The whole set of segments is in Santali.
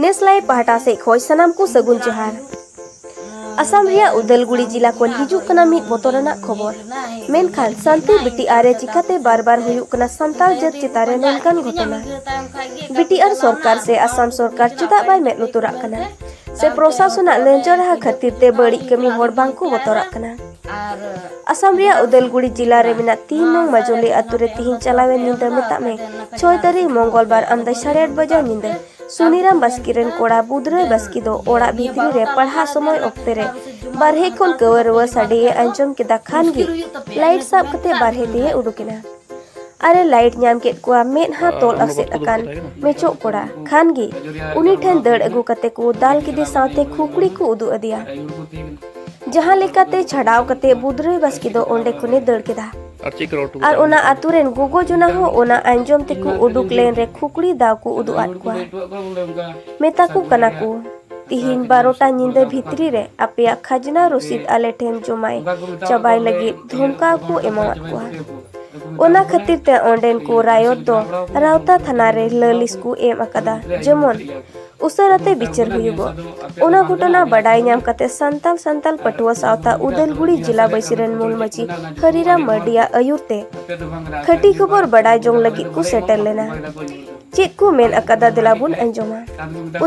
ᱱᱮᱥᱞᱟᱭ ᱯᱟᱦᱴᱟ ᱥᱮᱫ ᱠᱷᱚᱡ ᱥᱟᱱᱟᱢ ᱠᱚ ᱥᱟᱹᱜᱩᱱ ᱡᱚᱦᱟᱨ ᱟᱥᱟᱢ ᱨᱮᱭᱟᱜ ᱩᱫᱟᱞᱜᱩᱲᱤ ᱡᱤᱞᱟ ᱠᱷᱚᱱ ᱦᱤᱡᱩᱜ ᱠᱟᱱᱟ ᱢᱤᱫ ᱵᱚᱛᱚᱨᱟᱱᱟᱜ ᱠᱷᱚᱵᱚᱨ ᱢᱮᱱᱠᱷᱟᱱ ᱥᱟᱱᱛᱤ ᱵᱤᱴᱤᱟᱨ ᱨᱮ ᱪᱤᱠᱟᱛᱮ ᱵᱟᱨ ᱵᱟᱨ ᱦᱩᱭᱩᱜ ᱠᱟᱱᱟ ᱥᱟᱱᱛᱟᱲ ᱡᱟᱹᱛ ᱪᱮᱛᱟᱱ ᱨᱮ ᱱᱚᱝᱠᱟᱱ ᱜᱷᱚᱴᱚᱱᱟ ᱵᱤᱴᱤᱟᱨ ᱥᱚᱨᱠᱟᱨ ᱥᱮ ᱟᱥᱟᱢ ᱥᱚᱨᱠᱟᱨ ᱪᱮᱫᱟᱜ ᱵᱟᱭ ᱢᱮᱫ ᱞᱩᱛᱩᱨᱟᱜ ᱠᱟᱱᱟ ᱥᱮ ᱯᱨᱚᱥᱟᱥᱚᱱᱟᱜ ᱞᱟᱹᱧᱪᱟᱲᱦᱟ ᱠᱷᱟᱹᱛᱤᱨ ᱛᱮ ᱵᱟᱹᱲᱤᱡ ᱠᱟᱹᱢᱤ ᱦᱚᱲ ᱵᱟᱝᱠᱚ ᱵᱚᱛᱚᱨᱟᱜ ᱠᱟᱱᱟ ᱟᱥᱟᱢ ᱨᱮᱭᱟᱜ ᱩᱫᱟᱞᱜᱩᱲᱤ ᱡᱤᱞᱟ ᱨᱮ ᱢᱮᱱᱟᱜ ᱛᱤᱱ ᱱᱚᱝ ᱢᱟᱡᱚᱞᱤ ᱟᱛᱳ ᱨᱮ ᱛᱤᱦᱤᱧ ᱪᱟᱞᱟᱣᱮᱱ ᱧᱤᱫᱟᱹ ᱢᱮᱛᱟᱜ ᱢᱮ ᱪᱷᱚᱭ ᱛᱟᱹᱨᱤᱠᱷ ᱢᱚᱝᱜᱚᱞ ᱵᱟᱨ ᱟᱢᱫᱟ ᱥᱟᱲᱮ ᱟᱴ ᱵᱟᱡᱟᱜ ᱧᱤᱫᱟᱹ ᱥᱩᱱᱤᱨᱟᱢ ᱵᱟᱥᱠᱮ ᱨᱮᱱ ᱠᱚᱲᱟ ᱵᱩᱫᱽᱨᱟᱹ ᱵᱟᱥᱠᱮ ᱫᱚ ᱚᱲᱟᱜ ᱵᱷᱤᱛᱨᱤ ᱨᱮ ᱯᱟᱲᱦᱟᱜ ᱥᱚᱢᱚᱭ ᱚᱠᱛᱮ ᱨᱮ ᱵᱟᱨᱦᱮ ᱠᱷᱚᱱ ᱠᱟᱹᱣᱟᱹ ᱨᱩᱣᱟᱹ ᱥᱟᱰᱮ ᱮ ᱟᱸᱡᱚᱢ ᱠᱮᱫᱟ ᱠᱷᱟᱱ ᱜᱮ ᱞᱟᱭᱤᱴ ᱥᱟᱵ ᱠᱟᱛᱮ ᱵᱟᱨᱦᱮ ᱛᱮ ᱩᱰᱩᱠᱮᱱᱟ ᱟᱨᱮ ᱞᱟᱭᱤᱴ ᱧᱟᱢ ᱠᱮᱫ ᱠᱚᱣᱟ ᱢᱮᱫᱦᱟ ᱛᱚᱞ ᱟᱥᱮᱫ ᱟᱠᱟᱱ ᱢᱮᱪᱚᱜ ᱠᱚᱲᱟ ᱠᱷᱟᱱ ᱜᱮ ᱩᱱᱤ ᱴᱷᱮᱱ ᱫᱟᱹᱲ ᱟᱹᱜᱩ ᱠᱟᱛᱮ ᱠᱚ ᱫᱟᱞ ᱠᱮᱫᱮ ᱥᱟᱶᱛᱮ ᱠᱷᱩᱯᱲᱤ ᱠᱚ ᱩᱫᱩᱜ ᱟᱫᱮᱭᱟ ᱡᱟᱦᱟᱸ ᱞᱮᱠᱟᱛᱮ ᱪᱷᱟᱰᱟᱣ ᱠᱟᱛᱮ ᱵᱩᱫᱽᱨᱟᱹᱭ ᱵᱟᱥᱠᱮ ᱫᱚ ᱚᱸᱰᱮ ᱠᱷᱚᱱᱮ ᱫᱟᱹᱲ ᱠᱮᱫᱟ ᱟᱨ ᱪᱮᱫ ᱠᱚ ᱚᱴᱚ ᱟᱨ ᱚᱱᱟ ᱟᱛᱳ ᱨᱮᱱ ᱜᱚᱜᱚ ᱡᱚᱱᱟ ᱦᱚᱸ ᱚᱱᱟ ᱟᱸᱡᱚᱢ ᱛᱮᱠᱚ ᱩᱰᱩᱠ ᱞᱮᱱ ᱨᱮ ᱠᱷᱩᱠᱲᱤ ᱫᱟᱣ ᱠᱚ ᱩᱫᱩᱜ ᱟᱫ ᱠᱚᱣᱟ ᱢᱮᱛᱟ ᱠᱚ ᱠᱟᱱᱟ ᱠᱚ ᱛᱤᱦᱤᱧ ᱵᱟᱨᱚᱴᱟ ᱧᱤᱫᱟᱹ ᱵᱷᱤᱛᱨᱤ ᱨᱮ ᱟᱯᱮᱭᱟᱜ ᱠᱷᱟᱡᱽᱱᱟ ᱨᱚᱥᱤᱫ ᱟᱞᱮ ᱴᱷᱮᱱ ᱡᱚᱢᱟᱭ ᱪᱟᱵᱟᱭ ᱞᱟᱹᱜᱤᱫ ᱫᱷᱚᱢᱠᱟᱣ ᱠᱚ ᱮᱢᱟᱣᱟᱫ ᱠᱚᱣᱟ ᱚᱱᱟ ᱠᱷᱟᱹᱛᱤᱨ ᱛᱮ ᱚᱸᱰᱮᱱ ᱠᱚ ᱨᱟᱭᱚᱛ ᱫᱚ ᱨᱟᱣᱛᱟ ᱛᱷᱟᱱᱟ ᱨᱮ ᱞᱟᱹᱞᱤᱥ ᱠᱚ ᱮᱢ ᱟᱠᱟᱫᱟ ᱡᱮᱢᱚᱱ ᱩᱥᱟᱹᱨᱟ ᱛᱮ ᱵᱤᱪᱟᱹᱨ ᱦᱩᱭᱩᱜᱚᱜ ᱚᱱᱟ ᱜᱷᱚᱴᱚᱱᱟ ᱵᱟᱰᱟᱭ ᱧᱟᱢ ᱠᱟᱛᱮ ᱥᱟᱱᱛᱟᱞ ᱥᱟᱱᱛᱟᱞ ᱯᱟᱹᱴᱷᱩᱣᱟᱹ ᱥᱟᱶᱛᱟ ᱩᱫᱟᱹᱞᱜᱩᱲᱤ ᱡᱤᱞᱟ ᱵᱟᱹᱭᱥᱤ ᱨᱮᱱ ᱢᱩᱞ ᱢᱟᱹᱪᱤ ᱦᱟᱹᱨᱤᱨᱟᱢ ᱢᱟᱹᱨᱰᱤᱭᱟᱜ ᱟᱹᱭᱩᱨ ᱛᱮ ᱠᱷᱟᱹᱴᱤ ᱠᱷᱚᱵᱚᱨ ᱵᱟᱰᱟᱭ ᱡᱚᱝ ᱞᱟᱹᱜᱤᱫ ᱠᱚ ᱥᱮᱴᱮᱨ ᱞᱮᱱᱟ ᱪᱮᱫ ᱠᱚ ᱢᱮᱱ ᱟᱠᱟᱫᱟ ᱫᱮᱞᱟ ᱵᱚᱱ ᱟᱸᱡᱚᱢᱟ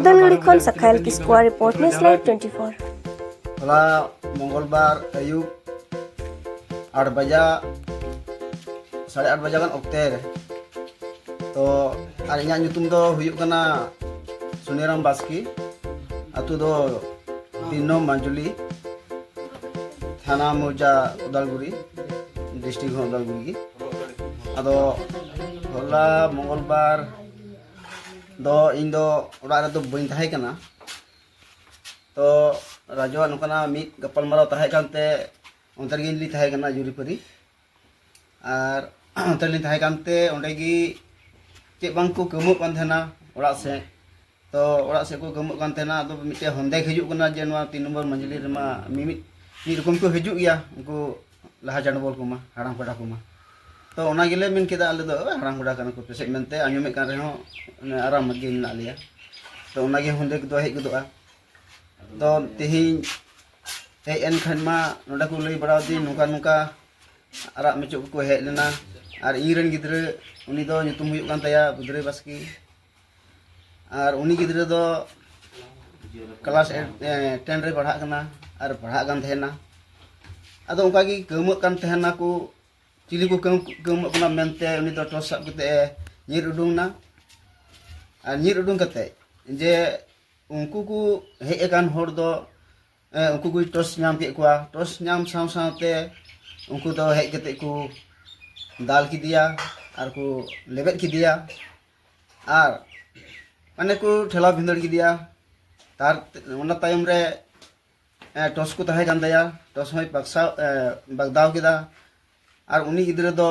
ᱩᱫᱟᱹᱞᱜᱩᱲᱤ ᱠᱷᱚᱱ ᱥᱟᱠᱷᱟᱭᱞ ᱠᱤᱥᱠᱩᱣᱟ ᱨᱤᱯᱳᱨᱴ ᱱᱮᱥ ᱞᱟᱭᱤᱵ ᱴᱩᱭᱮᱱᱴᱤ ᱯᱷᱳᱨ ᱦᱚᱞᱟ ᱢᱚᱝᱜᱚᱞᱵᱟᱨ ᱟᱹᱭᱩᱵ ᱟᱴ ᱵᱟᱡᱟ ᱥᱟᱲᱮ ᱟᱴ ᱵᱟᱡᱟ ᱜᱟᱱ ᱚᱠᱛᱮ ᱨᱮ ᱛᱚ ᱟᱨ ᱤᱧᱟᱹᱜ ᱧᱩᱛᱩᱢ ᱫᱚ ᱦᱩᱭᱩᱜ ᱠᱟᱱᱟ ᱥᱩᱱᱤᱨᱟᱢ ᱵᱟᱥᱠᱮ ᱟᱛᱳ ᱫᱚ ᱛᱤᱱ ᱱᱚᱢ ᱢᱟᱡᱩᱞᱤ ᱛᱷᱟᱱᱟ ᱢᱚᱣᱡᱟ ᱩᱫᱟᱞᱜᱩᱨᱤ ᱰᱤᱥᱴᱨᱤᱠ ᱦᱚᱸ ᱩᱫᱟᱞᱜᱩᱨᱤ ᱜᱮ ᱟᱫᱚ ᱦᱚᱞᱟ ᱢᱚᱝᱜᱚᱞ ᱵᱟᱨ ᱫᱚ ᱤᱧ ᱫᱚ ᱚᱲᱟᱜ ᱨᱮᱫᱚ ᱵᱟᱹᱧ ᱛᱟᱦᱮᱸ ᱠᱟᱱᱟ ᱛᱚ ᱨᱟᱡᱩᱣᱟᱜ ᱱᱚᱝᱠᱟᱱᱟᱜ ᱢᱤᱫ ᱜᱟᱯᱟᱞᱢᱟᱨᱟᱣ ᱛᱟᱦᱮᱸ ᱠᱟᱱᱛᱮ ᱚᱱᱛᱮ ᱨᱮᱜᱮ ᱤᱧ ᱫᱚᱧ ᱛᱟᱦᱮᱸ ᱠᱟᱱᱟ ᱡᱩᱨᱤᱯᱟᱹᱨᱤ ᱟᱨ ᱚᱱᱛᱮ ᱞᱤᱧ ᱛᱟᱦᱮᱸ ᱠᱟᱱᱛᱮ ᱚᱸᱰᱮ ᱜᱮ ᱪᱮᱫ ᱵᱟᱝ ᱠᱚ ᱠᱟᱹᱢᱩᱜ ᱠᱟᱱ ᱛᱟᱦᱮᱱᱟ ᱚᱲᱟᱜ ᱥᱮᱫ ᱛᱚ ᱚᱲᱟᱜ ᱥᱮᱫ ᱠᱚ ᱠᱟᱹᱢᱩᱜ ᱠᱟᱱ ᱛᱟᱦᱮᱱᱟ ᱟᱫᱚ ᱢᱤᱫᱴᱮᱡ ᱦᱚᱱᱫᱮᱠ ᱦᱤᱡᱩᱜ ᱠᱟᱱᱟ ᱡᱮ ᱱᱚᱣᱟ ᱛᱤᱱ ᱱᱚᱢᱵᱚᱨ ᱢᱟᱹᱡᱷᱤᱞᱤ ᱨᱮᱢᱟ ᱢᱤᱢᱤᱫ ᱢᱤᱫ ᱨᱚᱠᱚᱢ ᱠᱚ ᱦᱤᱡᱩᱜ ᱜᱮᱭᱟ ᱩᱱᱠᱩ ᱞᱟᱦᱟ ᱪᱟᱰᱵᱚᱞ ᱠᱚᱢᱟ ᱦᱟᱲᱟᱢ ᱠᱚᱲᱟ ᱠᱚᱢᱟ ᱛᱚ ᱚᱱᱟ ᱜᱮᱞᱮ ᱢᱮᱱ ᱠᱮᱫᱟ ᱟᱞᱮ ᱫᱚ ᱦᱟᱲᱟᱢ ᱠᱚᱲᱟ ᱠᱟᱱᱟ ᱠᱚ ᱯᱟᱥᱮᱡ ᱢᱮᱱᱛᱮ ᱟᱸᱡᱚᱢᱮᱫ ᱠᱟᱱ ᱨᱮᱦᱚᱸ ᱟᱨᱟᱢ ᱜᱮ ᱢᱮᱱᱟᱜ ᱞᱮᱭᱟ ᱛᱚ ᱚᱱᱟᱜᱮ ᱦᱚᱱᱫᱮᱠ ᱫᱚ ᱦᱮᱡ ᱜᱚᱫᱚᱜᱼᱟ ᱫᱚ ᱛᱮᱦᱮᱧ ᱦᱮᱡ ᱮᱱ ᱠᱷᱟᱱ ᱢᱟ ᱱᱚᱰᱮ ᱠᱚ ᱞᱟᱹᱭ ᱵᱟᱲᱟ ᱟᱹᱫᱤᱧ ᱱᱚᱝᱠᱟ ᱱᱚᱝᱠᱟ ᱟᱨᱟᱜ ᱢᱮᱪᱚᱜ ᱠᱚᱠᱚ ᱦᱮᱡ ᱞᱮᱱᱟ ᱟᱨ ᱤᱧ ᱨᱮᱱ ᱜᱤᱫᱽᱨᱟᱹ ᱩᱱᱤ ᱫᱚ ᱧᱩᱛᱩᱢ ᱦᱩᱭᱩᱜ ᱠᱟᱱ ᱛᱟᱭᱟ ᱵᱩᱫᱷᱨᱟᱹᱭ ᱵᱟᱥᱠᱮ ᱟᱨ ᱩᱱᱤ ᱜᱤᱫᱽᱨᱟᱹ ᱫᱚ ᱠᱞᱟᱥ ᱴᱮᱱ ᱨᱮ ᱯᱟᱲᱦᱟᱜ ᱠᱟᱱᱟ ᱟᱨ ᱯᱟᱲᱦᱟᱜ ᱠᱟᱱ ᱛᱟᱦᱮᱱᱟ ᱟᱫᱚ ᱚᱱᱠᱟ ᱜᱮ ᱠᱟᱹᱣᱢᱟᱹᱜ ᱠᱟᱱ ᱛᱟᱦᱮᱱᱟ ᱠᱚ ᱪᱤᱞᱤ ᱠᱚ ᱠᱟᱹᱣᱢᱟᱹᱜ ᱠᱟᱱᱟ ᱢᱮᱱᱛᱮ ᱩᱱᱤ ᱫᱚ ᱴᱚᱨᱪ ᱥᱟᱵ ᱠᱟᱛᱮ ᱧᱤᱨ ᱩᱰᱩᱝ ᱮᱱᱟ ᱟᱨ ᱧᱤᱨ ᱩᱰᱩᱝ ᱠᱟᱛᱮ ᱡᱮ ᱩᱱᱠᱩ ᱠᱚ ᱦᱮᱡ ᱟᱠᱟᱱ ᱦᱚᱲ ᱫᱚ ᱩᱱᱠᱩ ᱠᱚ ᱴᱚᱥ ᱧᱟᱢ ᱠᱮᱫ ᱠᱚᱣᱟ ᱴᱚᱥ ᱧᱟᱢ ᱥᱟᱶ ᱥᱟᱶᱛᱮ ᱩᱱᱠᱩ ᱫᱚ ᱦᱮᱡ ᱠᱟᱛᱮ ᱠᱚ ᱫᱟᱞ ᱠᱮᱫᱮᱭᱟ ᱟᱨ ᱠᱚ ᱞᱮᱵᱮᱫ ᱠᱮᱫᱮᱭᱟ ᱟᱨ ᱢᱟᱱᱮ ᱠᱚ ᱴᱷᱮᱞᱟᱣ ᱵᱷᱤᱸᱫᱟᱹᱲ ᱠᱮᱫᱮᱭᱟ ᱛᱟᱨ ᱚᱱᱟ ᱛᱟᱭᱚᱢ ᱨᱮ ᱴᱚᱥ ᱠᱚ ᱛᱟᱦᱮᱸ ᱠᱟᱱ ᱛᱟᱭᱟ ᱴᱚᱥ ᱦᱚᱸᱭ ᱵᱟᱜᱥᱟᱣ ᱵᱟᱜᱫᱟᱣ ᱠᱮᱫᱟ ᱟᱨ ᱩᱱᱤ ᱜᱤᱫᱽᱨᱟᱹ ᱫᱚ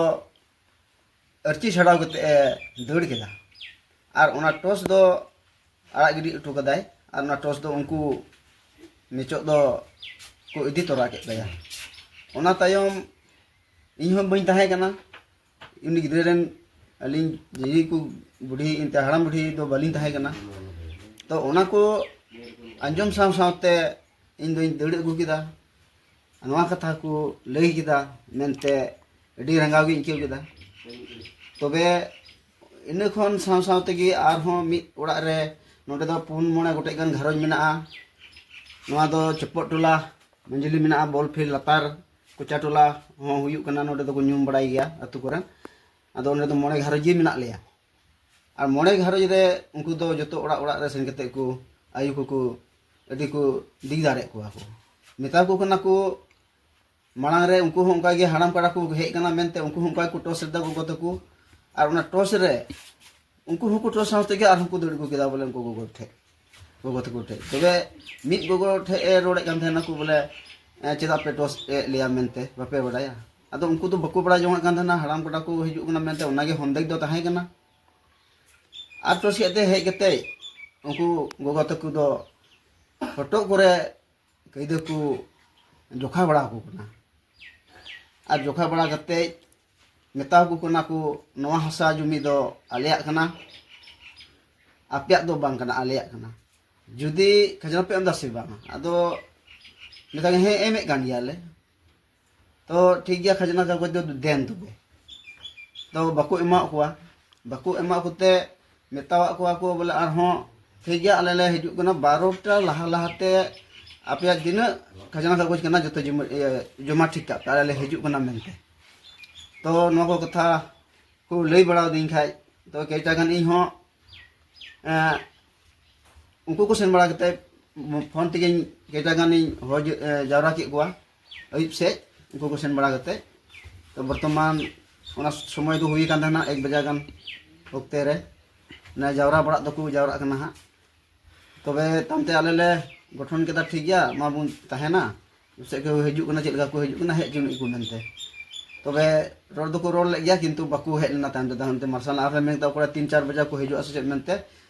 ᱟᱨᱪᱤ ᱪᱷᱟᱰᱟᱣ ᱠᱟᱛᱮ ᱮ ᱫᱟᱹᱲ ᱠᱮᱫᱟ ᱟᱨ ᱚᱱᱟ ᱴᱚᱥ ᱫᱚ ᱟᱲᱟᱜ ᱜᱤᱰᱤ ᱦᱚᱴᱚ ᱠᱟᱫᱟᱭ ᱟᱨ ᱚᱱᱟ ᱴᱚᱥ ᱫᱚ ᱩᱱᱠᱩ ᱢᱮᱪᱚᱜ ᱫᱚ ᱠᱚ ᱤᱫᱤ ᱛᱚᱨᱟ ᱠᱮᱫ ᱛᱟᱭᱟ ᱚᱱᱟ ᱛᱟᱭᱚᱢ ᱤᱧ ᱦᱚᱸ ᱵᱟᱹᱧ ᱛᱟᱦᱮᱸ ᱠᱟᱱᱟ ᱩᱱᱤ ᱜᱤᱫᱽᱨᱟᱹ ᱨᱮᱱ ᱟᱹᱞᱤᱧ ᱡᱤᱡᱤ ᱠᱚ ᱵᱩᱰᱷᱤ ᱮᱱᱛᱮ ᱦᱟᱲᱟᱢ ᱵᱩᱰᱷᱤ ᱫᱚ ᱵᱟᱹᱞᱤᱧ ᱛᱟᱦᱮᱸ ᱠᱟᱱᱟ ᱛᱚ ᱚᱱᱟ ᱠᱚ ᱟᱸᱡᱚᱢ ᱥᱟᱶ ᱥᱟᱶᱛᱮ ᱤᱧ ᱫᱚᱧ ᱫᱟᱹᱲ ᱟᱹᱜᱩ ᱠᱮᱫᱟ ᱱᱚᱣᱟ ᱠᱟᱛᱷᱟ ᱠᱚ ᱞᱟᱹᱭ ᱠᱮᱫᱟ ᱢᱮᱱᱛᱮ ᱟᱹᱰᱤ ᱨᱟᱸᱜᱟᱣ ᱜᱤᱧ ᱟᱹᱭᱠᱟᱹᱣ ᱠᱮᱫᱟ ᱛᱚᱵᱮ ᱤᱱᱟᱹ ᱠᱷᱚᱱ ᱥᱟᱶ ᱥᱟᱶ ᱛᱮᱜᱮ ᱟᱨᱦᱚᱸ ᱢᱤᱫ ᱚᱲᱟᱜ ᱨᱮ ᱱᱚᱰᱮ ᱫᱚ ᱯᱩᱱ ᱢᱚᱬᱮ ᱜᱚᱴᱮᱡ ᱜᱟᱱ ᱜᱷᱟᱨᱚᱸᱡᱽ ᱢᱮᱱᱟᱜᱼᱟ ᱱᱚᱣᱟ ᱫᱚ ᱪᱚᱯᱚᱫ ᱴᱚᱞᱟ ᱢᱟᱹᱡᱷᱤᱞᱤ ᱢᱮᱱᱟᱜᱼᱟ ᱵᱚᱞ ᱯᱷᱤᱞᱰ ᱞᱟᱛᱟᱨ ᱠᱚᱪᱟ ᱴᱚᱞᱟ ᱦᱚᱸ ᱦᱩᱭᱩᱜ ᱠᱟᱱᱟ ᱱᱚᱰᱮ ᱫᱚᱠᱚ ᱧᱩᱢ ᱵᱟᱲᱟᱭ ᱜᱮᱭᱟ ᱟᱛᱳ ᱠᱚᱨᱮ ᱟᱫᱚ ᱚᱸᱰᱮ ᱫᱚ ᱢᱚᱬᱮ ᱜᱷᱟᱨᱚᱸᱡᱽ ᱜᱮ ᱢᱮᱱᱟᱜ ᱞᱮᱭᱟ ᱟᱨ ᱢᱚᱬᱮ ᱜᱷᱟᱨᱚᱸᱡᱽ ᱨᱮ ᱩᱱᱠᱩ ᱫᱚ ᱡᱚᱛᱚ ᱚᱲᱟᱜ ᱚᱲᱟᱜ ᱨᱮ ᱥᱮᱱ ᱠᱟᱛᱮ ᱠᱚ ᱟᱭᱳ ᱠᱚᱠᱚ ᱟᱹᱰᱤ ᱠᱚ ᱫᱤᱜ ᱫᱟᱲᱮᱭᱟᱜ ᱠᱚᱣᱟ ᱠᱚ ᱢᱮᱛᱟ ᱠᱚ ᱠᱟᱱᱟ ᱠᱚ ᱢᱟᱲᱟᱝ ᱨᱮ ᱩᱱᱠᱩ ᱦᱚᱸ ᱚᱱᱠᱟ ᱜᱮ ᱦᱟᱲᱟᱢ ᱠᱟᱲᱟ ᱠᱚ ᱦᱮᱡ ᱠᱟᱱᱟ ᱢᱮᱱᱛᱮ ᱩᱱᱠᱩ ᱦᱚᱸ ᱚᱱᱠᱟ ᱠᱚ ᱴᱚᱥ ᱞᱮᱫᱟ ᱜᱚᱜᱚ ᱛᱟᱠᱚ ᱟᱨ ᱚᱱᱟ ᱴᱚᱥ ᱨᱮ ᱩᱱᱠᱩ ᱦᱚᱸᱠᱚ ᱴᱚᱥ ᱥᱟᱶ ᱛᱮᱜᱮ ᱟᱨᱦᱚᱸ ᱠᱚ ᱫᱟᱹᱲ ᱟᱹᱜᱩ ᱠᱮᱫᱟ ᱵᱚᱞᱮ ᱩᱱᱠᱩ ᱜᱚᱜᱚ ᱴᱷᱮᱡ ᱜᱚᱜᱚ ᱛᱟᱠᱚ ᱴᱷᱮᱡ ᱛᱚᱵᱮ ᱢᱤᱫ ᱜᱚᱜᱚ ᱴᱷᱮᱡ ᱮ ᱨᱚᱲᱮᱫ ᱠᱟᱱ ᱛᱟᱦᱮᱱᱟ ᱠᱚ ᱵᱚᱞᱮ ᱪᱮᱫᱟᱜ ᱯᱮ ᱴᱚᱥ ᱮᱫ ᱞᱮᱭᱟ ᱢᱮᱱᱛᱮ ᱵᱟᱯᱮ ᱵᱟᱰᱟᱭᱟ ᱟᱫᱚ ᱩᱱᱠᱩ ᱫᱚ ᱵᱟᱠᱚ ᱵᱟᱲᱟᱭ ᱡᱚᱝᱟᱜ ᱠᱟᱱ ᱛᱟᱦᱮᱱᱟ ᱦᱟᱲᱟᱢ ᱠᱚᱲᱟ ᱠᱚ ᱦᱤᱡᱩᱜ ᱠᱟᱱᱟ ᱢᱮᱱᱛᱮ ᱚᱱᱟᱜᱮ ᱦᱚᱱᱫᱮᱠ ᱫᱚ ᱛᱟᱦᱮᱸ ᱠᱟᱱᱟ ᱟᱨ ᱴᱚᱥᱤᱭᱟᱜ ᱛᱮ ᱦᱮᱡ ᱠᱟᱛᱮ ᱩᱱᱠᱩ ᱜᱚᱜᱚ ᱛᱟᱠᱚ ᱫᱚ ᱦᱚᱴᱚᱜ ᱠᱚᱨᱮ ᱠᱟᱹᱭᱫᱟᱹ ᱠᱚ ᱡᱚᱠᱷᱟ ᱵᱟᱲᱟ ᱟᱠᱚ ᱠᱟᱱᱟ ᱟᱨ ᱡᱚᱠᱷᱟ ᱵᱟᱲᱟ ᱠᱟᱛᱮ ᱢᱮᱛᱟ ᱟᱠᱚ ᱠᱟᱱᱟ ᱠᱚ ᱱᱚᱣᱟ ᱦᱟᱥᱟ ᱡᱩᱢᱤ ᱫᱚ ᱟᱞᱮᱭᱟᱜ ᱠᱟᱱᱟ ᱟᱯᱮᱭᱟᱜ ᱫᱚ ᱵᱟᱝ ᱠᱟᱱᱟ ᱟᱞᱮᱭᱟᱜ ᱠᱟᱱᱟ ᱡᱩᱫᱤ ᱠᱷᱟᱡᱽᱱᱟ ᱯᱮ ᱮᱢ ᱮᱫᱟ ᱥᱮ ᱵᱟᱝ ᱟᱫᱚ ᱢᱮᱛᱟ ᱦᱮᱸ ᱮᱢᱮᱫ ᱠᱟᱱ ᱜᱮᱭᱟᱞᱮ ᱛᱚ ᱴᱷᱤᱠ ᱜᱮᱭᱟ ᱠᱷᱟᱡᱽᱱᱟ ᱠᱟᱜᱚᱡᱽ ᱫᱚ ᱫᱮᱱ ᱛᱚᱵᱮ ᱛᱚ ᱵᱟᱠᱚ ᱮᱢᱟᱜ ᱠᱚᱣᱟ ᱵᱟᱠᱚ ᱮᱢᱟᱜ ᱠᱚᱛᱮ ᱢᱮᱛᱟᱣᱟᱜ ᱠᱚᱣᱟ ᱠᱚ ᱵᱚᱞᱮ ᱟᱨᱦᱚᱸ ᱴᱷᱤᱠ ᱜᱮᱭᱟ ᱟᱞᱮ ᱞᱮ ᱦᱤᱡᱩᱜ ᱠᱟᱱᱟ ᱵᱟᱨᱚᱴᱟ ᱞᱟᱦᱟ ᱞᱟᱦᱟᱛᱮ ᱟᱯᱮᱭᱟᱜ ᱛᱤᱱᱟᱹᱜ ᱠᱷᱟᱡᱽᱱᱟ ᱠᱟᱜᱚᱡᱽ ᱠᱟᱱᱟ ᱡᱚᱛᱚ ᱡᱚᱢᱟ ᱴᱷᱤᱠ ᱠᱟᱜ ᱯᱮ ᱟᱞᱮ ᱞᱮ ᱦᱤᱡᱩᱜ ᱠᱟᱱᱟ ᱢᱮᱱᱛᱮ ᱛᱚ ᱱᱚᱣᱟ ᱠᱚ ᱠᱟᱛᱷᱟ ᱠᱚ ᱞᱟᱹᱭ ᱵᱟᱲᱟ ᱟᱹᱫᱤᱧ ᱠᱷᱟᱡ ᱛᱚ ᱠᱮᱭᱴᱟ ᱜᱟᱱ ᱤᱧ ᱦᱚᱸ ᱩᱱᱠᱩ ᱠᱚ ᱥᱮᱱ ᱵᱟᱲᱟ ᱠᱟᱛᱮ ᱯᱷᱳᱱ ᱛᱮᱜᱮᱧ ᱠᱮᱭᱴᱟ ᱜᱟᱱᱤᱧ ᱦᱚᱦᱚ ᱡᱟᱣᱨᱟ ᱠᱮᱫ ᱠᱚᱣᱟ ᱟᱹᱭᱩᱵ ᱥᱮᱡ ᱩᱱᱠᱩ ᱠᱚ ᱥᱮᱱ ᱵᱟᱲᱟ ᱠᱟᱛᱮ ᱛᱚ ᱵᱚᱨᱛᱚᱢᱟᱱ ᱚᱱᱟ ᱥᱚᱢᱚᱭ ᱫᱚ ᱦᱩᱭ ᱟᱠᱟᱱ ᱛᱟᱦᱮᱱᱟ ᱮᱠ ᱵᱟᱡᱟ ᱜᱟᱱ ᱚᱠᱛᱮ ᱨᱮ ᱚᱱᱟ ᱡᱟᱣᱨᱟ ᱵᱟᱲᱟᱜ ᱫᱚᱠᱚ ᱡᱟᱣᱨᱟᱜ ᱠᱟᱱᱟ ᱦᱟᱸᱜ ᱛᱚᱵᱮ ᱛᱟᱭᱚᱢ ᱛᱮ ᱟᱞᱮ ᱞᱮ ᱜᱚᱴᱷᱚᱱ ᱠᱮᱫᱟ ᱴᱷᱤᱠ ᱜᱮᱭᱟ ᱢᱟ ᱵᱚᱱ ᱛᱟᱦᱮᱱᱟ ᱥᱮᱫ ᱠᱚ ᱦᱤᱡᱩᱜ ᱠᱟᱱᱟ ᱪᱮᱫ ᱞᱮᱠᱟ ᱠᱚ ᱦᱤᱡᱩᱜ ᱠᱟᱱᱟ ᱦᱮᱡ ᱦᱚᱪᱚ ᱟᱹᱱᱤᱡ ᱠᱚ ᱢᱮᱱᱛᱮ ᱛᱚᱵᱮ ᱨᱚᱲ ᱫᱚᱠᱚ ᱨᱚᱲ ᱞᱮᱫ ᱜᱮᱭᱟ ᱠᱤᱱᱛᱩ ᱵᱟᱠᱚ ᱦᱮᱡ ᱞᱮᱱᱟ ᱛᱟᱭᱚᱢ ᱛᱮᱫᱚ ᱦᱟᱱᱛᱮ ᱢᱟᱨᱥᱟᱞ ᱟᱨᱦᱚᱸ ᱢᱮᱱ ᱠᱮᱫᱟ ᱚᱠᱚᱭ ᱛᱤᱱ ᱪᱟᱨ ᱵᱟᱡᱟ ᱠᱚ ᱦᱤᱡᱩᱜᱼᱟ ᱥᱮ ᱪᱮᱫ ᱢᱮᱱᱛᱮ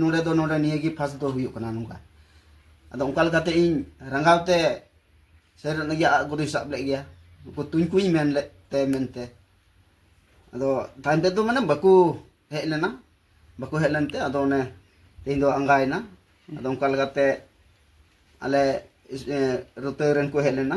ᱱᱚᱰᱮ ᱫᱚ ᱱᱚᱰᱮ ᱱᱤᱭᱟᱹ ᱜᱮ ᱯᱷᱟᱥᱴ ᱫᱚ ᱦᱩᱭᱩᱜ ᱠᱟᱱᱟ ᱱᱚᱝᱠᱟ ᱟᱫᱚ ᱚᱱᱠᱟ ᱞᱮᱠᱟᱛᱮ ᱤᱧ ᱨᱟᱸᱜᱟᱣ ᱛᱮ ᱥᱮᱨ ᱞᱟᱹᱜᱤᱫ ᱟᱜ ᱜᱩᱨᱩᱭ ᱥᱟᱵ ᱞᱮᱫ ᱜᱮᱭᱟ ᱩᱱᱠᱩ ᱛᱩᱧ ᱠᱚᱧ ᱢᱮᱱ ᱞᱮᱫ ᱛᱮ ᱢᱮᱱᱛᱮ ᱟᱫᱚ ᱛᱟᱭᱚᱢ ᱛᱮᱫᱚ ᱢᱟᱱᱮ ᱵᱟᱠᱚ ᱦᱮᱡ ᱞᱮᱱᱟ ᱵᱟᱠᱚ ᱦᱮᱡ ᱞᱮᱱᱛᱮ ᱟᱫᱚ ᱚᱱᱮ ᱛᱮᱦᱮᱧ ᱫᱚ ᱟᱸᱜᱟᱭᱮᱱᱟ ᱟᱫᱚ ᱚᱱᱠᱟ ᱞᱮᱠᱟᱛᱮ ᱟᱞᱮ ᱨᱚᱛᱮ ᱨᱮᱱ ᱠᱚ ᱦᱮᱡ ᱞᱮᱱᱟ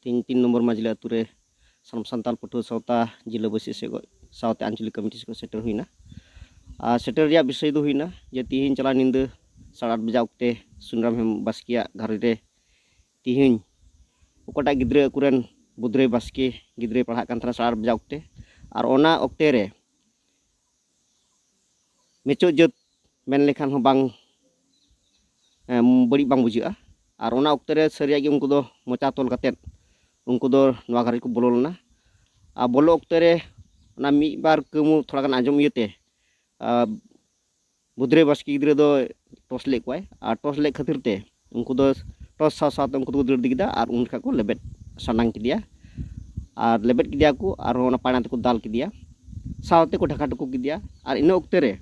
ᱛᱮᱦᱮᱧ ᱛᱤᱱ ᱱᱚᱢᱵᱚᱨ ᱢᱟᱡᱽᱞᱤ ᱟᱹᱛᱩ ᱨᱮ ᱥᱟᱱᱟᱢ ᱥᱟᱱᱛᱟᱲ ᱯᱟᱹᱴᱷᱩᱣᱟᱹ ᱥᱟᱶᱛᱟ ᱡᱤᱞᱟᱹ ᱵᱟᱹᱥᱤ ᱥᱮᱫ ᱥᱟᱶᱛᱮ ᱟᱧᱪᱚᱞᱤᱠ ᱠᱚᱢᱤᱴᱤ ᱥᱮᱫ ᱥᱮᱴᱮᱨ ᱦᱩᱭᱱᱟ ᱟᱨ ᱥᱮᱴᱮᱨ ᱨᱮᱭᱟᱜ ᱵᱤᱥᱚᱭ ᱫᱚ ᱦᱩᱭᱱᱟ ᱡᱮ ᱛᱤᱦᱤᱧ ᱪᱟᱞᱟᱣ ᱧᱤᱫᱟᱹ ᱥᱟᱲᱮ ᱟᱴ ᱵᱟᱡᱟᱜ ᱚᱠᱛᱮ ᱥᱩᱱᱨᱟᱢ ᱦᱮᱢ ᱵᱟᱥᱠᱮᱭᱟᱜ ᱜᱷᱟᱨᱚᱸᱡᱽ ᱨᱮ ᱛᱤᱦᱤᱧ ᱚᱠᱟᱴᱟᱜ ᱜᱤᱫᱽᱨᱟᱹ ᱟᱠᱚᱨᱮᱱ ᱵᱩᱫᱽᱨᱟᱹᱭ ᱵᱟᱥᱠᱮ ᱜᱤᱫᱽᱨᱟᱹᱭ ᱯᱟᱲᱦᱟᱜ ᱠᱟᱱ ᱛᱟᱦᱮᱱᱟ ᱥᱟᱲᱮ ᱟᱴ ᱵᱟᱡᱟᱜ ᱚᱠᱛᱮ ᱟᱨ ᱚᱱᱟ ᱚᱠᱛᱮ ᱨᱮ ᱱᱤᱪᱚᱜ ᱡᱟᱹᱛ ᱢᱮᱱ ᱞᱮᱠᱷᱟᱱ ᱦᱚᱸ ᱵᱟᱝ ᱵᱟᱹᱲᱤᱡ ᱵᱟᱝ ᱵᱩᱡᱷᱟᱹᱜᱼᱟ ᱟᱨ ᱚᱱᱟ ᱚᱠᱛᱮ ᱨᱮ ᱥᱟᱹᱨᱤᱭᱟᱜ ᱜᱮ ᱩᱱᱠᱩ ᱫᱚ ᱢᱚᱪᱟ ᱛᱚᱞ ᱠᱟᱛᱮᱫ ᱩᱱᱠᱩ ᱫᱚ ᱱᱚᱣᱟ ᱜᱷᱟᱨᱚᱸᱡᱽ ᱠᱚ ᱵᱚᱞᱚ ᱞᱮᱱᱟ ᱟᱨ ᱵᱚᱞᱚ ᱚᱠᱛᱮ ᱨᱮ ᱚᱱᱟ ᱢᱤᱫ ᱵᱟᱨ ᱠᱟᱹᱢᱩ ᱛᱷᱚᱲᱟ ᱜᱟᱱ ᱟᱸᱡᱚᱢ ᱤᱭᱟᱹᱛᱮ ᱵᱩᱫᱷᱨᱟᱹᱭ ᱵᱟᱥᱠᱮ ᱜᱤᱫᱽᱨᱟᱹ ᱫᱚ ᱴᱚᱥ ᱞᱮᱫ ᱠᱚᱣᱟᱭ ᱟᱨ ᱴᱚᱥ ᱞᱮᱫ ᱠᱷᱟᱹᱛᱤᱨ ᱛᱮ ᱩᱱᱠᱩ ᱫᱚ ᱴᱚᱥ ᱥᱟᱶ ᱥᱟᱶᱛᱮ ᱩᱱᱠᱩ ᱫᱚᱠᱚ ᱫᱟᱹᱲ ᱤᱫᱤ ᱠᱮᱫᱟ ᱟᱨ ᱩᱱ ᱡᱚᱠᱷᱟᱡ ᱠᱚ ᱞᱮᱵᱮᱫ ᱥᱟᱱᱟᱝ ᱠᱮᱫᱮᱭᱟ ᱟᱨ ᱞᱮᱵᱮᱫ ᱠᱮᱫᱮᱭᱟ ᱠᱚ ᱟᱨᱦᱚᱸ ᱚᱱᱟ ᱯᱟᱭᱲᱟ ᱛᱮᱠᱚ ᱫᱟᱞ ᱠᱮᱫᱮᱭᱟ ᱥᱟᱶᱛᱮ ᱠᱚ ᱰᱷᱟᱠᱟ ᱴᱩᱠᱩ ᱠᱮᱫᱮᱭᱟ ᱟᱨ ᱤᱱᱟᱹ ᱚᱠᱛᱮ ᱨᱮ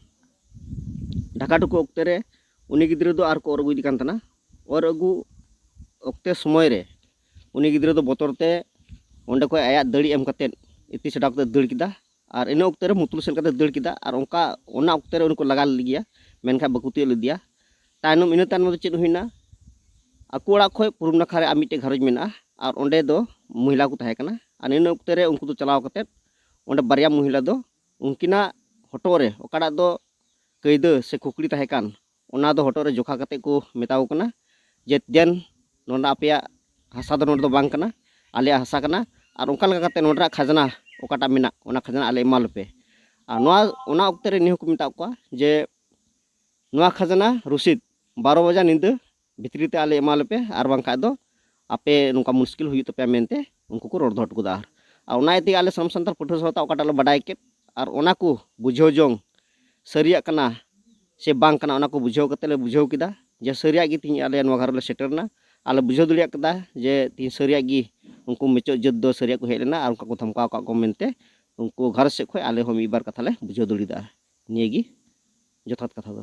ᱰᱷᱟᱠᱟ ᱴᱩᱠᱩ ᱚᱠᱛᱮ ᱨᱮ ᱩᱱᱤ ᱜᱤᱫᱽᱨᱟᱹ ᱫᱚ ᱟᱨ ᱠᱚ ᱚᱨ ᱟᱹᱜᱩᱭᱮᱫᱮ ᱠᱟᱱ ᱛᱟᱦᱮᱱᱟ ᱚᱨ ᱟᱹᱜᱩ ᱚᱠᱛᱮ ᱥᱚᱢᱚᱭ ᱨᱮ ᱩᱱᱤ ᱜᱤᱫᱽᱨᱟᱹ ᱫᱚ ᱵᱚᱛᱚᱨ ᱛᱮ ᱚᱸᱰᱮ ᱠᱷᱚᱡ ᱟᱭᱟᱜ ᱫᱟᱹᱲᱤ ᱮᱢ ᱠᱟᱛᱮᱫ ᱤᱛᱤ ᱪᱷᱟᱰᱟᱣ ᱠᱟᱛᱮᱫ ᱫᱟᱹᱲ ᱠᱮᱫᱟ ᱟᱨ ᱤᱱᱟᱹ ᱚᱠᱛᱮ ᱨᱮ ᱢᱩᱛᱩᱞ ᱥᱮᱫ ᱞᱮᱠᱟᱛᱮ ᱫᱟᱹᱲ ᱠᱮᱫᱟ ᱟᱨ ᱚᱱᱠᱟ ᱚᱱᱟ ᱚᱠᱛᱮ ᱨᱮ ᱩᱱᱤ ᱠᱚ ᱞᱟᱜᱟ ᱞᱮᱫᱮ ᱜᱮᱭᱟ ᱢᱮᱱᱠᱷᱟᱱ ᱵᱟᱠᱚ ᱛᱤᱭᱳᱜ ᱞᱮᱫᱮᱭᱟ ᱛᱟᱭᱱᱚᱢ ᱤᱱᱟᱹ ᱛᱟᱭᱱᱚᱢ ᱫᱚ ᱪᱮᱫ ᱦᱩᱭᱱᱟ ᱟᱠᱚ ᱚᱲᱟᱜ ᱠᱷᱚᱱ ᱯᱩᱨᱩᱵ ᱱᱟᱠᱷᱟ ᱨᱮ ᱟᱨ ᱢᱤᱫᱴᱮᱱ ᱜᱷᱟᱨᱚᱸᱡᱽ ᱢᱮᱱᱟᱜᱼᱟ ᱟᱨ ᱚᱸᱰᱮ ᱫᱚ ᱢᱚᱦᱤᱞᱟ ᱠᱚ ᱛᱟᱦᱮᱸ ᱠᱟᱱᱟ ᱟᱨ ᱤᱱᱟᱹ ᱚᱠᱛᱮ ᱨᱮ ᱩᱱᱠᱩ ᱫᱚ ᱪᱟᱞᱟᱣ ᱠᱟᱛᱮᱫ ᱚᱸᱰᱮ ᱵᱟᱨᱭᱟ ᱢᱚᱦᱤᱞᱟ ᱫᱚ ᱩᱱᱠᱤᱱᱟᱜ ᱦᱚᱴᱚᱜ ᱨᱮ ᱚᱠᱟᱴᱟᱜ ᱫᱚ ᱠᱟᱹᱭᱫᱟᱹ ᱥᱮ ᱠᱷᱩᱠᱲᱤ ᱛᱟᱦᱮᱸ ᱠᱟᱱ ᱚᱱᱟ ᱫᱚ ᱦᱚᱴᱚᱜ ᱨᱮ ᱡᱚᱠᱷᱟ ᱠᱟᱛᱮ ᱠᱚ ᱢᱮᱛᱟ ᱠᱚ ᱠᱟᱱᱟ ᱡᱮ ᱫᱮᱱ ᱱᱚᱰᱮ ᱟᱯᱮᱭᱟᱜ ᱦᱟᱥᱟ ᱫᱚ ᱱᱚᱰᱮ ᱫᱚ ᱵᱟᱝ ᱠᱟᱱᱟ ᱟᱞᱮᱭᱟᱜ ᱦᱟᱥᱟ ᱠᱟᱱᱟ ᱟᱨ ᱚᱱᱠᱟ ᱞᱮᱠᱟ ᱠᱟᱛᱮ ᱱᱚᱰᱮ ᱨᱮᱱᱟᱜ ᱠᱷᱟᱡᱽᱱᱟ ᱚᱠᱟᱴᱟᱜ ᱢᱮᱱᱟᱜ ᱚᱱᱟ ᱠᱷᱟᱡᱽᱱᱟ ᱟᱞᱮ ᱮᱢᱟ ᱞᱮᱯᱮ ᱟᱨ ᱱᱚᱣᱟ ᱚᱱᱟ ᱚᱠᱛᱮ ᱨᱮ ᱱᱤᱭᱟᱹ ᱦᱚᱸᱠᱚ ᱢᱮᱛᱟ ᱠᱚᱣᱟ ᱡᱮ ᱱᱚᱣᱟ ᱠᱷᱟᱡᱽᱱᱟ ᱨᱚᱥᱤᱫ ᱵᱟᱨᱚ ᱵᱟᱡᱟ ᱧᱤᱫᱟᱹ ᱵᱷᱤᱛᱨᱤ ᱛᱮ ᱟᱞᱮ ᱮᱢᱟ ᱞᱮᱯᱮ ᱟᱨ ᱵᱟᱝᱠᱷᱟᱡ ᱫᱚ ᱟᱯᱮ ᱱᱚᱝᱠᱟ ᱢᱩᱥᱠᱤᱞ ᱦᱩᱭᱩᱜ ᱛᱟᱯᱮᱭᱟ ᱢᱮᱱᱛᱮ ᱩᱱᱠᱩ ᱠᱚ ᱨᱚᱲ ᱫᱚᱦᱚ ᱦᱚᱴᱚ ᱠᱟᱫᱟ ᱟᱨ ᱚᱱᱟ ᱤᱭᱟᱹ ᱛᱮᱜᱮ ᱟᱞᱮ ᱥᱟᱱᱟᱢ ᱥᱟᱱᱛᱟᱲ ᱯᱟᱹᱴᱷᱩᱣᱟᱹ ᱥᱟᱶᱛᱟ ᱚᱠᱟᱴᱟᱜ ᱞᱮ ᱵᱟᱰᱟᱭ ᱠᱮᱫ ᱟᱨ ᱚᱱᱟ ᱠᱚ ᱵᱩᱡᱷᱟᱹᱣ ᱡᱚᱝ ᱥᱟᱹᱨᱤᱭᱟᱜ ᱠᱟᱱᱟ ᱥᱮ ᱵᱟᱝ ᱠᱟᱱᱟ ᱚᱱᱟ ᱠᱚ ᱵᱩᱡᱷᱟᱹᱣ ᱠᱟᱛᱮ ᱞᱮ ᱵᱩᱡᱷᱟᱹᱣ ᱠᱮᱫᱟ ᱡᱮ ᱥᱟᱹᱨᱤᱭᱟᱜ ᱜᱮ ᱛᱤᱦᱤᱧ ᱟᱞᱮ ᱱᱚᱣᱟ ᱜᱷᱟᱨᱚᱸᱡᱽ ᱞᱮ ᱥᱮᱴᱮᱨᱱᱟ ᱟᱨ ᱞᱮ ᱵᱩᱡᱷᱟᱹᱣ ᱫᱟᱲᱮᱭᱟᱜ ᱠᱟᱫᱟ ᱡᱮ ᱛᱤᱦᱤᱧ ᱥᱟᱹᱨᱤᱭᱟᱜ ᱜᱮ ᱩᱱᱠᱩ ᱢᱩᱪᱟᱹᱫ ᱡᱟᱹᱛ ᱫᱚ ᱥᱟᱹᱨᱤᱭᱟᱜ ᱠᱚ ᱦᱮᱡ ᱞᱮᱱᱟ ᱟᱨ ᱚᱱᱠᱟ ᱠᱚ ᱫᱷᱚᱢᱠᱟᱣ ᱟᱠᱟᱫ ᱠᱚ ᱢᱮᱱᱛᱮ ᱩᱱᱠᱩ ᱜᱷᱟᱨᱚᱸᱡᱽ ᱥᱮᱫ ᱠᱷᱚᱱ ᱟᱞᱮ ᱦᱚᱸ ᱢᱤᱫ ᱵᱟᱨ ᱠᱟᱛᱷᱟ ᱞᱮ ᱵᱩᱡᱷᱟᱹᱣ ᱫᱟᱲᱮᱭᱟᱫᱟ ᱱᱤᱭᱟᱹ ᱜᱮ ᱡᱚᱛᱷᱟᱛ ᱠᱟᱛᱷᱟ ᱫᱚ